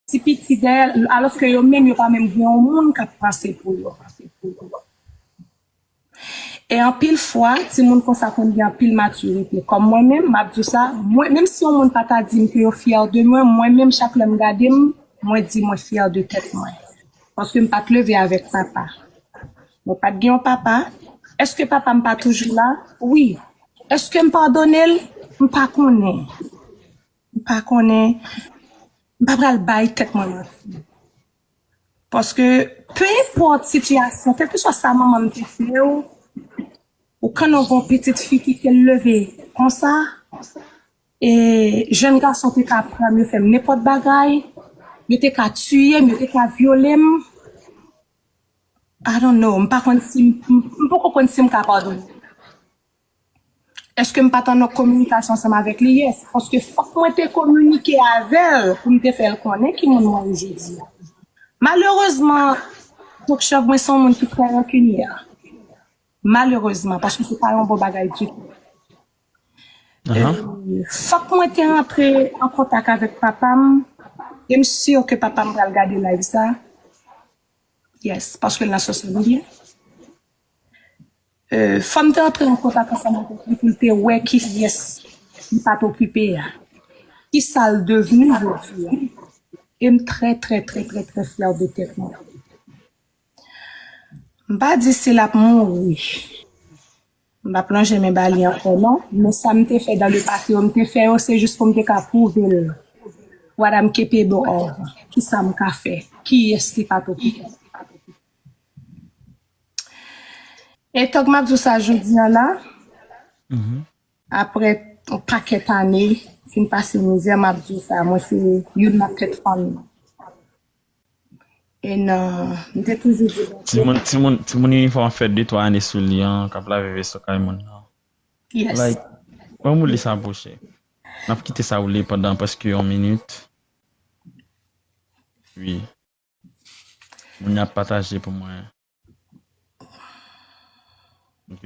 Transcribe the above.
Ti piti dèyè l alòske yo menm yo pa menm gen yon moun k ap panse pou yo. E anpil fwa, timoun konsa konn gen anpil matirite. Kòm mwen menm, m ap di w sa, mwen menm si yon moun pa ta di m ke yo fyè de mwen, mwen menm chak lè m gade m, mwen di mwen fyè de tèt mwen. Paske m pa t leve avèk papa. Mwen pa t gen yon papa. Èske papa m pa toujou la? Wi. Èske m padone l? M pa konnen. M pa konnen, m pa pral bay tèt mwen manti. Paske, pe enpòt sitiyasyon, kèlkeswa sa manman m te fè ou, ou knnen w gen yon pitit fi ki te leve konsa, e jèn gason te ka pran m, yo fè m nenpòt bagay, yo te ka tiye m, yo te ka vyole m. I don't know, m pa konn si, m poko konn si m ka padone. Eske m pa t an kominikasyon ansanm avèk li? Yes, paske fòk mwen te kominike avè l pou m te fè l konnen ki moun mwen ye jodi a. Malerezman, Tokchòv, mwen se yon moun ki trè rankinyè. Malerezman, paske se pa yon bon bagay ditou. Fòk mwen te rantre an kontak avèk papa m, e m si ke papa m pral gade live sa. Yes, paske l nan sosyal medya. Fanm te antre an kontak ansanm avèk li pou l te wè kiyès li pa t okipe a. Kisa l devni jodi a. E m trè trè trè trè trè fyè de tèt mwen. M pa di si l ap mouri, m pa p lonje men ba li ankò non, men sa m te fè dan le pase yo, m te fè yo se jis pou m te ka pwouve l what am capable of, kisa m ka fè, kiyès li pa t okipe. E tank map di w sa jodi an la, aprè yon pakèt ane fin pase mizè map di w sa mwen se youn nan tèt fanmi an. E nan, m te toujou di Bondye. Timoun inifòm ap fè de twa ane sou li an kap lave veso kay moun nan. Yes. Wè m ou li sa bouche. Nap kite sa woule pandan prèske yon minit. Wi. Moun yo ap pataje pou mwen. Ok.